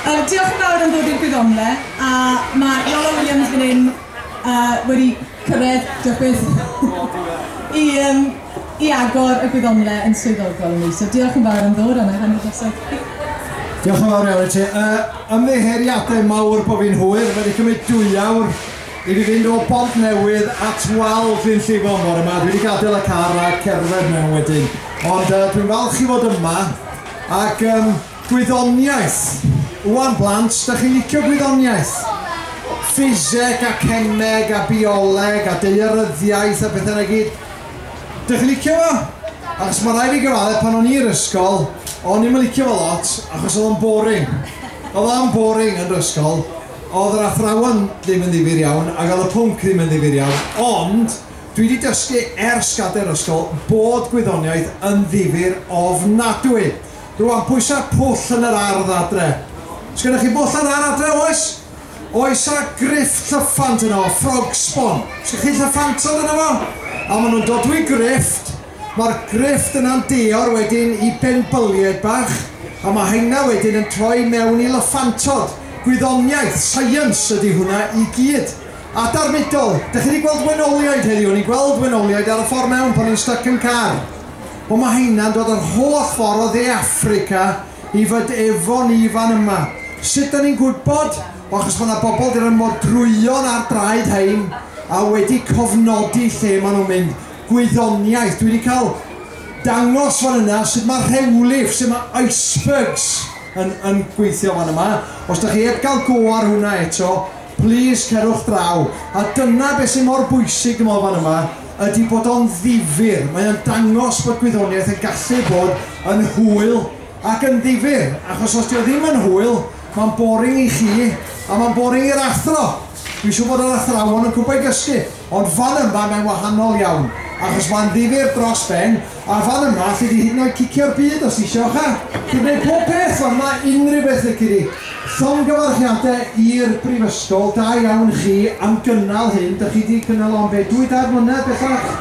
Yy diolch yn fawr am ddod i'r gwyddonle a ma' Iolo Williams fan 'yn yy wedi cyrredd diolch byth i yym i agor y gwyddonle yn swyddogol i mi so diolch yn fawr am ddod a nâi hanner drosodd i chi. Diolch yn fawr iawn i ti. Yy ymddiheuriade mawr bo fi'n hwyr, ma' 'di cymryd dwy awr i fi fynd o Bontnewydd at wal Glyn Llifon bore 'ma, dwi 'di gadel y car a cerdded mewn wedyn ond yy dwi'n falch i fod yma ac yym Gwyddoniaeth, Ŵan blant, dych chi'n licio gwyddoniaeth? Ffiseg a cemeg a bioleg a daearyddiaeth a pethau 'na i gyd. Dych chi'n licio fo? Achos ma' raid fi gyfaddef pan o'n i yr ysgol o'n i'm yn licio fo lot achos o'dd o'n boring. O'dd o'n boring yn 'r ysgol. O'dd yr athrawon ddim yn ddifyr iawn ag o'dd y pwnc ddim yn ddifyr iawn ond dwi 'di dysgu ers gader ysgol bod gwyddoniaeth yn ddifyr ofnadwy. Rwan, pwysa pwll yn yr ardd adre. Sgennoch chi bwll yn yr ardd adre, oes? Oes a griff llyffant yno fo, frog sbon. Sgennoch chi llyffantod yno fo? A maen nhw'n dodwy grifft. Mae'r grifft yna'n deor wedyn i benbyliaid bach, a mae heina wedyn yn troi mewn i lyffantod. Gwyddoniaeth, science, ydy hwnna i gyd. Adar Mudol, dych chi wedi gweld wenoliaid heddiw? O'n i'n gweld wenoliaid ar y ffordd mewn pan o'n i'n styc yn car. O mae heina'n dod yr holl ffordd o dde Affrica i fyd efo ni fan yma. Sut da ni'n gwybod? O achos mae na bobl di roi modrwyon ar draed hein a wedi cofnodi lle mae nhw'n mynd. Gwyddoniaeth. Dwi di cael dangos fan yna sut mae rhewlif, sut mae icebergs yn yn gweithio fan yma. Os da chi eb gael go ar hwnna eto, plis cerwch draw. A dyna be sy mor bwysig dwi meddwl fan yma. ydy bod o'n ddifyr. Mae o'n dangos bod gwyddoniaeth yn gallu bod yn hwyl ac yn ddifyr, achos os 'di o ddim yn hwyl, mae'n boring i chi a mae'n boring i'r athro. Dwi'n siŵr bod yr athrawon yn gwybod i gysgu, ond fan yma mae'n wahanol iawn, achos mae'n ddifyr dros ben, A fan yma sydd i hyd yn oed cicio'r byd os isio cha! Chi'n gwneud pob peth fan yma, unrhyw beth lici di! Llongyfarchiade i'r Brifysgol, da iawn chi am gynnal hyn, dych chi di cynnal o am be, dwy dair mlynedd bellach?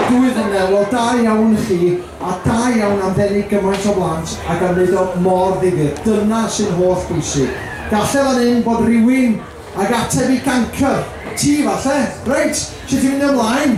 Dwy flynedd, wel da iawn chi, a da iawn am ddenu gymaint o blant ac am wneud o mor ddifyr, dyna sy'n holl bwysig. Galle fan hyn fod rywun ag ateb i gancr! Ti falle! Reit, sut ti'n mynd ymlaen?